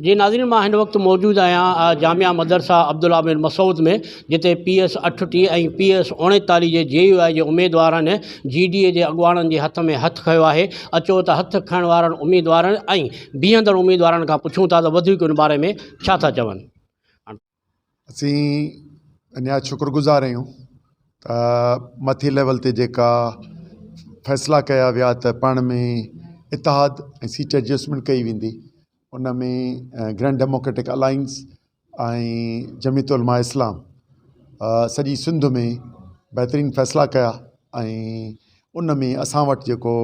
جي ناظرين مان هن وقت موجود آهيان جامع مدرسا عبدالله بن مسعود ۾ جتي پي ايس اٺٽيهه ۽ پي ايس اوڻيتاليهه جي جي يو آء جي اميدوارن جي ڊي اي جي اڳواڻن جي هٿ ۾ هٿ کنيو آهي اچو ته هٿ کڻڻ وارن اميدوارن ۽ بيهندڙ اميدوارن کان پڇون ٿا ته وڌيڪ ان باري ۾ ڇا ٿا چون اسين اڃا شڪر گذار آهيون ته مٿي ليول تي جيڪا فيصلا ڪيا ويا ته پاڻ ۾ اتحاد ۽ سيٽ ايڊجسٽمينٽ ڪئي ويندي ان ۾ Grand Democratic Alliance ۽ Jamiat Ulema Islam سڄي سنڌ ۾ بهترين فيصلا ڪيا ۽ ان ۾ اسان وٽ جيڪو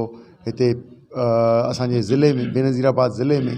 هتي اسانجي ضلعي ۾ بينظير آباد ضلعي ۾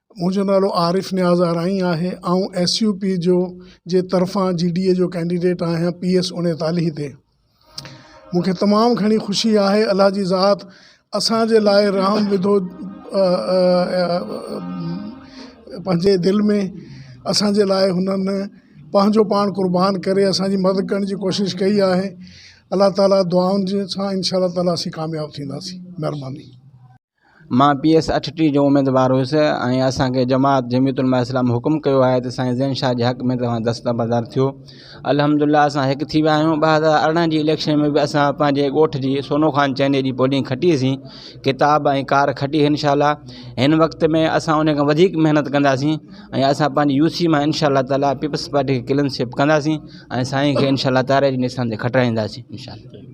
منهنجو نالو عارف نياز آرائين آهي. آئون ايس يو پي جو جي طرفان جي ڊي اي جو ڪينڊيڊيٽ آهيان پي ايس اڻيتاليهه تي. مون کي تمام گهڻي خوشي آهي الله جي ذات اسان جي لاء رحم وڌو پنهنجي دل ۾ اسان جي لاء هنن پنهنجو پاڻ قربان ڪري اسان جي مدد ڪرڻ جي ڪوشش ڪئي آهي الله تعالي دعائن سان انشاء الله تعالي اسين ڪامياب ٿينداسين مهرباني. مان پي ايس اٺ ٽي جو اميدوار هيس ۽ اسان کي جماعت جميعت علماء اسلام حڪم ڪيو آهي ته سائين زين شاهه جي حق ۾ توهان دستبردار ٿيو الحمد لله اسان هڪ ٿي ويا آهيون ٻه هزار ارڙهن جي اليڪشن ۾ به اسان پنهنجي ڳوٺ جي سونو خان چئني جي پولنگ کٽيسين ڪتاب ۽ ڪار کٽي انشاء الله هن وقت ۾ اسان ان کان وڌيڪ محنت ڪنداسين ۽ اسان پنهنجي يو سي مان انشاء الله تعالی پيپلس پارٽي کي ڪلين سوئپ ڪنداسين ۽ سائين کي انشاء الله تاري جي نشان تي کٽرائينداسين انشاء الله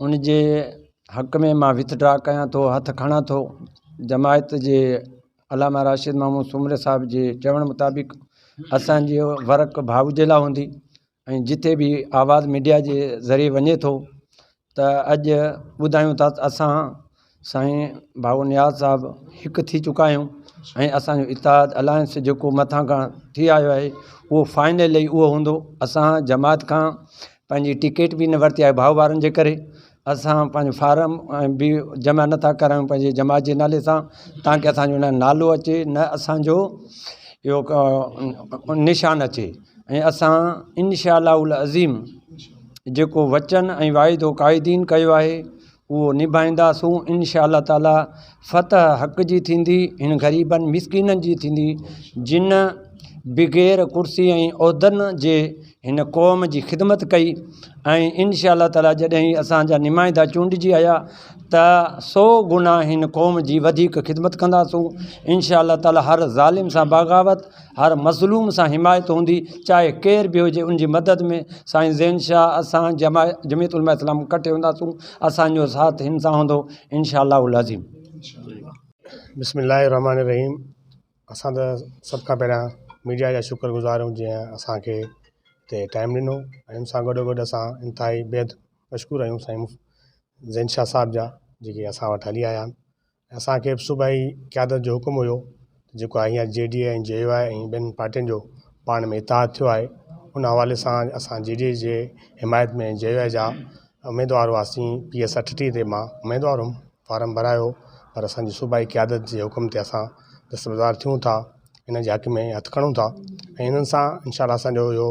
ان جي حق ۾ مان وٿ ڊرا ڪيان ٿو هٿ کڻان ٿو جماعت جي علامه راشد محمود سومري صاحب جي چوڻ مطابق اسانجي ورڪ ڀائو جي لاء هوندي ۽ جتي به آواز ميڊيا جي ذريعي وڃي ٿو ته اڄ ٻڌايون ٿا اسان سائين بابو نياز صاحب هڪ ٿي چڪا آهيون ۽ اسانجو اتحاد الائنس جيڪو مٿان کان ٿي آيو آهي اهو فائنل اهي اهو هوندو اسان جماعت کان پنهنجي ٽڪيٽ به نه ورتي آهي ڀائو وارن جي ڪري اسان پنهنجو فارم ۽ بي جمع نٿا ڪرايون پنهنجي جماعت جي نالي سان تانڪي اسانجو نه نالو اچي نه اسانجو اهو ڪا نشان اچي ۽ اسان انشاء الله العظيم جيڪو وچن ۽ واعدو قائدين ڪيو آهي اهو نڀائينداسون انشاء الله تعالي فتح حق جي ٿيندي هن غريبن مسڪينن جي ٿيندي جن بغير ڪرسي ۽ عهدن جي هن قوم جي خدمت ڪئي ۽ انشاء الله تعالي جڏهن هي اسان جا نمائندا چونڊجي آيا ته سو گنا هن قوم جي وڌيڪ خدمت ڪنداسون انشاء الله تعالي هر ظالم سان بغاوت هر مظلوم سان حمايت هوندي چاهي ڪير به هجي ان جي مدد ۾ سائين زين شاهه اسان جمعيت علماء اسلام ڪٺي هونداسون اسان جو ساٿ هن سان هوندو انشاء الله العظيم بسم الله الرحمٰن الرحيم اسان ته سڀ کان پهريان ميڊيا جا شڪر گذار آهيون جنهن اسانکي هتي ٽائيم ڏنو ۽ ان سان گڏو گڏ اسان انتهائي بيحد مشڪور آهيون سائين زين شاهه صاحب جا جيڪي اسان وٽ هلي آيا اسان کي به صوبائي قيادت جو حڪم هيو جيڪو آهي هينئر G D A ۽ J U I ۽ ٻين پارٽين جو پاڻ ۾ اتحاد ٿيو آهي ان حوالي سان اسان جي ڊي اي جي حمايت ۾ جي يو آء جا اميدوار هئاسين پي ايس اٺٽيهه تي مان اميدوار هئم فارم ڀرايو پر اسانجي صوبائي قيادت جي حڪم تي اسان دستبردار ٿيون ٿا انهن جي حق ۾ هٿ کڻون ٿا ۽ انهن سان انشاء الله اسانجو اهو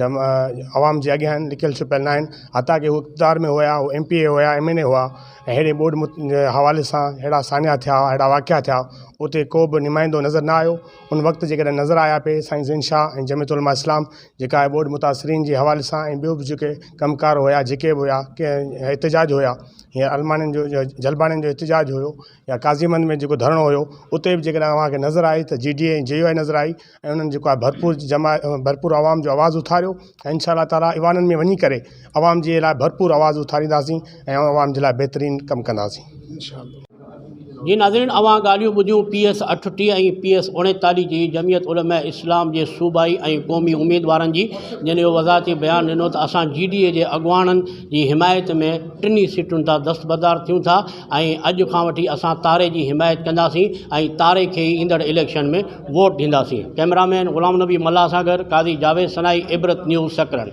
عوام جي اڳيان آهن لڪيل ڇپيل ناهن حتيٰ ڪي هو اقتدار ۾ هيا ايم پي اي هيا ايم اين اي هيا ۽ هيڏي ٻوڏ حوالي سان هيڙا ساڃا ٿيا هيڙا واقعا ٿيا اتي ڪو به نمائندو نظر نه آيو ان وقت جي ڪڏهن نظر آيا پي سائين زين شاھ ۽ جمعيت علماء اسلام جيڪا آهي ٻوڏ متاثرين جي حوالي سان ۽ ٻيو به جيڪي ڪم ڪار هيا جيڪي به هيا ڪي احتجاج هيا يا الماڙين جو يا جلباڙين جو احتجاج هيو يا قاضي مند ۾ جيڪو ڌرڻو هيو اتي به جي ڪڏهن اوهان کي نظر آئي ته G D A ۽ J U I نظر آئي ۽ انهن جيڪو آهي ڀرپور جما ڀرپور عوام جو آواز اٿاريو ۽ ان شاء الله تعالٰي ايوانن ۾ وڃي ڪري عوام جي لاء ڀرپور آواز اٿارينداسين ۽ عوام جي لاء بهترين ڪم ڪنداسين ان شاء الله جي ناظرين اوهان ڳالهيون ٻڌيون پي ايس اٺٽيهه ۽ پي ايس اوڻيتاليهه جي جمعيت علماء اسلام جي صوبائي ۽ قومي اميدوارن جي جن اهو وضاحتي بيان ڏنو ته اسان جي ڊي اي جي اڳواڻن جي حمايت ۾ ٽنهي سيٽن تان دستبردار ٿيون ٿا ۽ اڄ کان وٺي اسان تاري جي حمايت ڪنداسين ۽ تاري کي ئي ايندڙ اليڪشن ۾ ووٽ ڏينداسين ڪئميرا مين غلام نبي ملاح سان گڏ قاضي جاويد سنائي عبرت نيوز سڪرنڊ.